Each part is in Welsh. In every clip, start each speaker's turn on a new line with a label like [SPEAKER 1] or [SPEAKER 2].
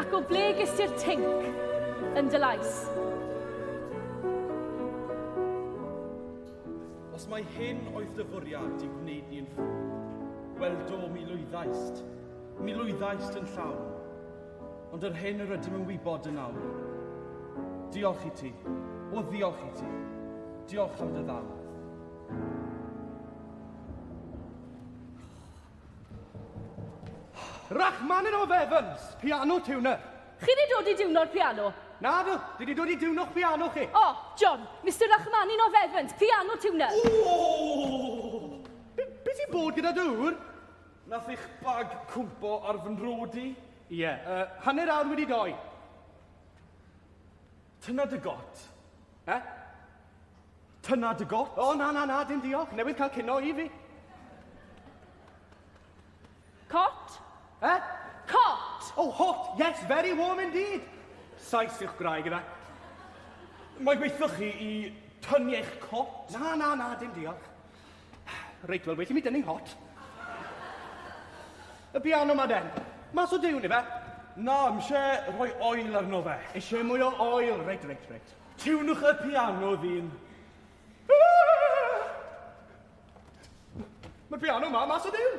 [SPEAKER 1] Ac o ble ges ti'r tinc yn dy lais? Os mai hyn oedd dy fwriad i gwneud ni'n ffwrdd, wel do, mi lwyddaist. Mi lwyddaist yn llawn. Ond yr hyn yr ydym yn wybod yn awr. Diolch i ti. O, ddiolch i ti. Diolch am dy ddal. Rachmaninoff Evans, piano tuner. Chi wedi dod i diwno'r piano? Na dw, dwi wedi dod i diwno'ch piano chi. O, oh, John, Mr Rachmaninoff Evans, piano tuner. Oh! Be, be ti'n bod gyda dŵr? Nath eich bag cwmpo ar fy nrod i? Ie, yeah, uh, hanner awr wedi doi. Tyna dy got. E? Tyna dy got. O, na, na, na, dim diolch. Newydd cael cino i fi. Cot? E? Cot! Oh, hot! Yes, very warm indeed! Saes i'ch gwraig, yna. Mae gweithio chi i tynu eich cot? Na, na, na, dim diolch. Reit, wel, well i mi dynnu hot. Y piano ma, Den. Mas o diwn, ife? Na, mi eisiau rhoi oil arno fe. Eisiau mwy o oil. Reit, reit, reit. Tiwnwch y piano ddyn. Mae'r piano ma, mas o diwn.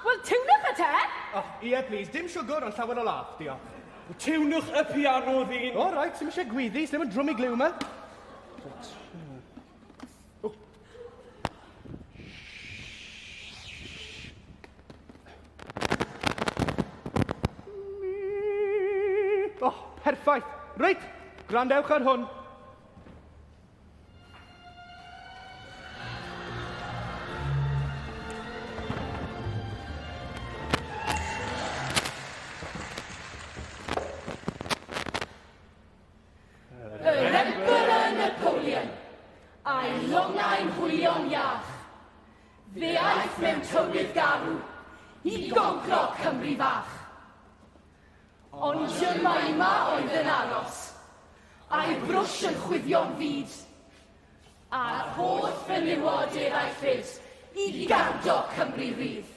[SPEAKER 1] Wel, tiwnwch y te! O, oh, ie, please. Dim siwgr, ond llawer o laff, diolch. Tiwnwch y piano ddyn. O, oh, reit, sy'n eisiau gwyddi, sy'n ddim yn drwm i glyw yma. Perffaith. Reit, gwrandewch ar hwn. Yr Emperor Napoleon, a'i longau'n hwylio'n iach. Fe aeth mewn tywydd garw i goncro Cymru fach. Ond Jemima oedd yn aros, a'i brwsh yn chwifio'n fyd, a'r holl fenywod eraill fyd i gardo Cymru rydd.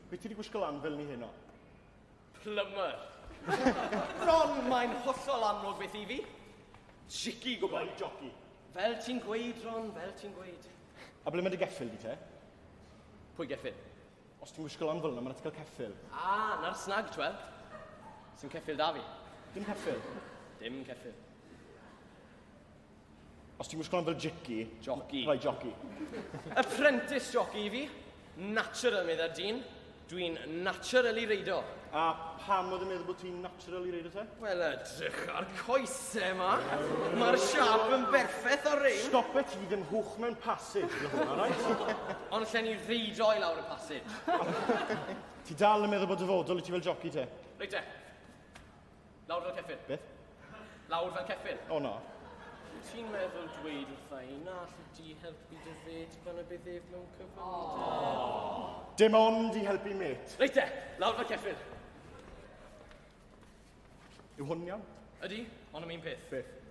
[SPEAKER 1] Be ti wedi gwisgo lan fel ni heno? Plumber. Ron, mae'n hollol amlwg beth i fi. Jici gwybod. Rhaid joci. Fel ti'n gweud, Ron, fel ti'n gweud. A ble mae dy geffyl di te? Pwy geffyl? Os ti'n gwisgo lan fel yna, mae'n atgal ceffyl. A, ah, na'r snag, twel. Sy'n ceffyl da fi. Dim ceffyl? Dim ceffyl. Os ti'n gwisgo fel jici... Joci. Rhoi joci. Apprentice joci i fi. Natural, meddai'r dyn. Dwi'n naturally reido. A pam oedd yn meddwl bod ti'n naturally reido te? Wel, edrych ar coese yma. Mae'r siap yn berffaith ar rein. Stop it, ti ddim hwch mewn passage, na hwnna, right? Ond lle ni reido i lawr y passage. ti dal yn meddwl bod dyfodol i ti fel joci te? Reit te. Lawr fel ceffyl. Beth? Lawr fel ceffyl. O na. Wyt ti'n meddwl dweud wrtha i na allu di helpu dy fed pan y bydd ef mewn cyfynodau? Dim ond i helpu met. Reit e, lawr fel ceffyl. Yw hwn iawn? Ydy, ond am un peth. Beth?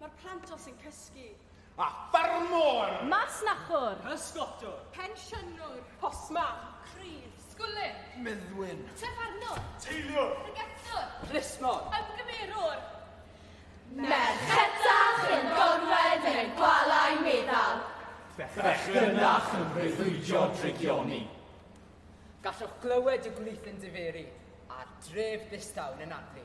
[SPEAKER 1] Mae'r plant os yn cysgu. A ffarmwr! Masnachwr! Pysgotwr! Pensiynwr! Postman! Crydd! Sgwlyn! Meddwyn! Tafarnwr! Teiliwr! Pregethwr! Plismon! Ymgymerwr! Merchetach yn gorwedd yn y gwalau meddal. Bechgynnach yn breuddwydio drygioni. Gallwch glywed y gwlith yn diferu a'r dref ddistaw yn anadlu.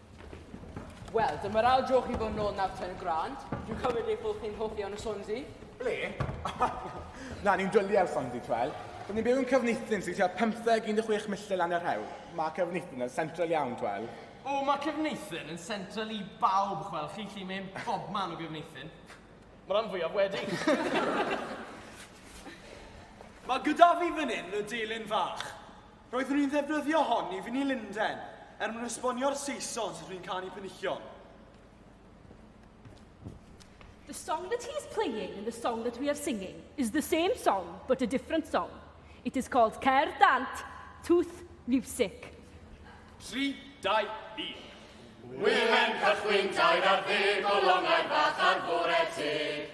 [SPEAKER 1] Wel, dyma'r ail dro chi fod yn ôl nawr ten grand. Dwi'n cymryd eich bod chi'n hoff iawn o Sonsi. Ble? Na, ni'n dwlu ar Sonsi, twel. Rydyn ni'n byw yn Cefnithin sy'n tua 15 milltir lan yr hewl. Mae Cefnithin yn central iawn, twel. O, mae Cefnithin yn central i bawb, chwel. Chi'n gallu mynd bob man o Gefnithin. Mae rhan fwyaf wedi. mae gyda fi fan hyn y delyn fach. Roeddwn i'n ddefnyddio hon i fyny Lunden er mwyn esbonio'r Saeson sut rwy'n canu penillion. The song that he is playing and the song that we are singing is the same song but a different song. It is called Cer Dant, Tooth Music. 3, 2, 1. Wylen cychwyn tair ar ddeg o longau bach ar fore teg.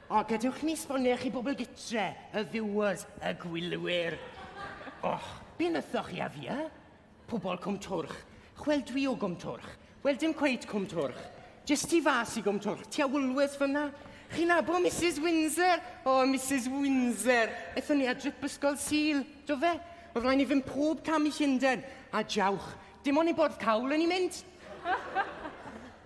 [SPEAKER 1] O, gadewch ni sbonio chi bobl gytre, y viewers, y gwylwyr. Och, be nythoch chi a fia? Pobl Cwm Twrch. Wel, dwi o Gwm Twrch. Wel, dim cweit Cwm Twrch. Jyst tu fas i Gwm Twrch, tua Woolworths fyna. Chi'n nabo Mrs Windsor? O, Mrs Windsor. Ethon ni a drip ysgol Sul, do fe? Oedd rhaid ni fynd pob cam i Llundain. A jawch, dim ond i bwrdd cawl o'n i'n mynd.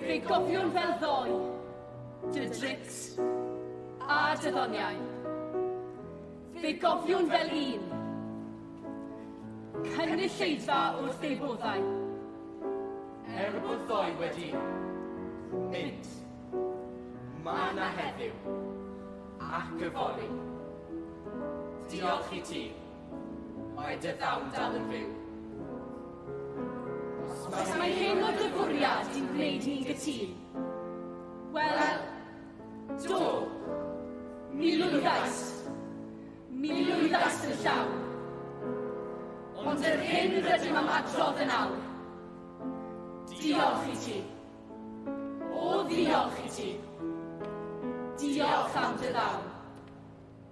[SPEAKER 1] Fe gofiwn fel ddoe, dy drics a dy ddoniau. Fe gofiwn fel un, cynulleidfa wrth ei boddau. Er bod ddoe wedi mynd, mae na heddiw ac yfory. Diolch i ti. Mae dy ddawn dal yn fyw. Os mae hyn o dy fwriad i'n gwneud ni'n gytun, wel, do, mi lwyddais. Mi lwyddais yn llawn. Ond yr hyn rydym am adrodd yn awr, diolch i ti. O, ddiolch i ti. Diolch am dy ddawn.